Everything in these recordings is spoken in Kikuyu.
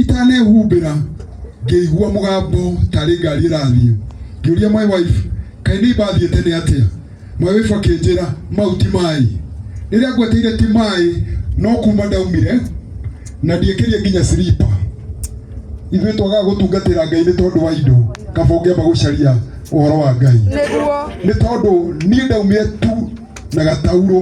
itanehumbĩra ngĩigua mũgambo tarĩ ngari ĩrathiĩ ngĩũria my wife kaĩ nĩ mbathiĩ tene atĩa my wife akĩnjĩra mau ti maĩ rĩrĩa ngweteire ti maĩ no kuma ndaumire na ndiĩkĩrie nginya silipa ithuĩ twagaga gũtungatĩra ngai nĩ tondũ wa indo kaba ũngĩamba gũcaria ũhoro wa ngai nĩ tondũ niĩ ndaumire tu na gatauro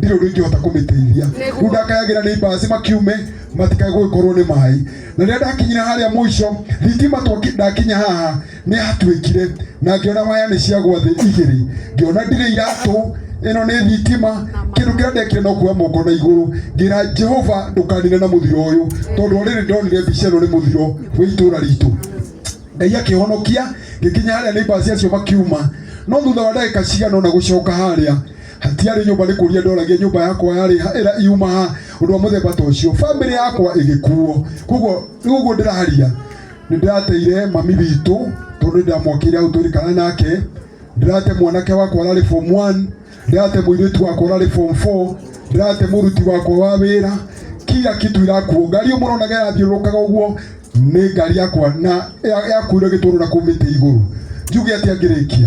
ndirĩ ũndũ ingĩhota kũmĩteithia rĩu ndakayagĩra nĩ mbaci makiume matikae gũgĩkorwo nĩ maĩ na rĩrĩa ndakinyire harĩa mũico thitima twaki- ndakinya haha nĩ yatuĩkire na ngĩona waya nĩ ciagwa thĩ igĩrĩ ngĩona ndirĩ iratũ ĩno nĩ thitima kĩndũ kĩrĩa ndekire no kuoya moko na igũrũ ngĩra jehova ndũkanine na mũthiro ũyũ tondũ orĩrĩ ndonire mbica ĩno nĩ mũthiro wĩ itũra ritũ ngai akĩhonokia ngĩkinya harĩa nĩ mbaci acio makiuma no thutha wa ndagĩka cigana ũna gũcoka harĩa hatiarĩ nyũmba nĩ kũria ndoragia nyũmba yakwa yarĩ ha ĩra iuma ha ũndũ wa mũthemba ta ũcio bamĩrĩ yakwa ĩgĩkuo koguo rĩu ũguo ndĩraria nĩ ndĩrateire mami witũ tondũ nĩ ndamwakĩire hau twĩrĩkana nake ndĩrate mwanake wakwa ararĩ form 1 ndĩrate mũirĩtu wakwa ararĩ form 4 ndĩrate mũruti wakwa wa wĩra kila kitu irakuo ngari ĩyo mũronaga ĩrathiũrũrũkaga ũguo nĩ ngari yakwa na ya- yakuire gĩtũrũra kũu mĩtĩ igũrũ njuge atĩa ngĩrĩkia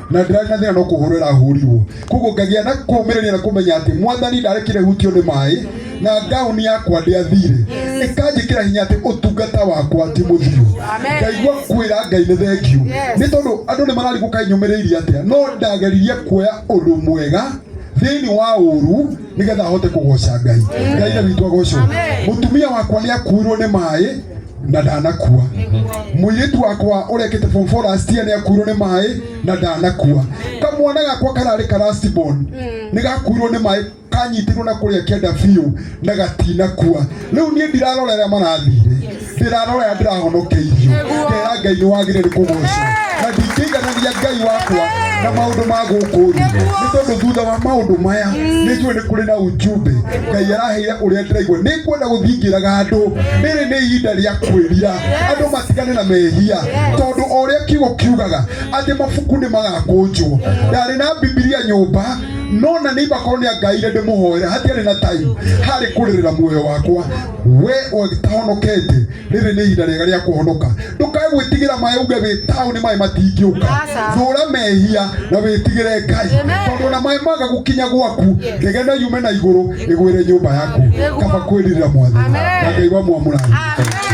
na ndirarĩ na thĩna no kũhũrwo ĩrahũrirwo koguo ngagĩa na kũmĩrĩria na kũmenya atĩ mwathani ndarekire hutio nĩ maĩ na ngauni yakwa ndĩathire ĩkanjĩkĩra hinya atĩ ũtungata wakwa ti mũthiru ngaigua kwĩra ngai nĩ thengiũ nĩ tondũ andũ nĩ mararigũka inyũmĩrĩirie atĩa no ndageririe kuoya ũndũ mwega thĩinĩ wa ũru nĩgetha ahote kũgoca ngai ngai na witũ agocwo mũtumia wakwa nĩ akuirwo nĩ maĩ na ndanakua mũirĩtu wakwa ũrekĩte form four last year nĩakuirwo nĩ maĩ na ndanakua kamwana gakwa kararĩ ka last born nĩgakuirwo nĩ maĩ kanyitirwo na kũrĩa kĩanda biũ na gatinakua rĩu niĩ ndirarora arĩa marathire ndĩrarora arĩa ndĩrahonokeirio ngera ngai nĩ wagĩrĩire nĩ kũgocwo na ndingĩiganania ngai wakwa na maũndũ ma gũkũ thĩ nĩ tondũ thutha wa maũndũ maya nĩ njũĩ nĩ kũrĩ na ujumbe ngai araheire ũrĩa ndĩraigua nĩ ngwenda gũthingĩraga andũ rĩrĩ nĩ ihinda rĩa kwĩrira andũ matigane na mehia tondũ o ũrĩa kiugo kiugaga atĩ mabuku nĩ magakũnjwo ndarĩ na bibilia nyũmba no na nĩ ibakorwo nĩ angaire ndĩmũhoera hatiarĩ na time harĩ kũrĩrĩra muoyo wakwa we ũgĩtahonokete Rĩrĩ nĩ ihinda rĩega rĩa kũhonoka. Ndũkae gwĩtigĩra maĩ uge wĩ taũni maĩ matingĩũka. Thũũra mehia na wĩtigĩre Ngai. Tondũ ona maĩ maga gũkinya gwaku, ndege no yume na igũrũ ĩgwĩre nyũmba yaku. Kaba kwĩrirĩra mwathani. Na Ngai wamwamũra athimĩte.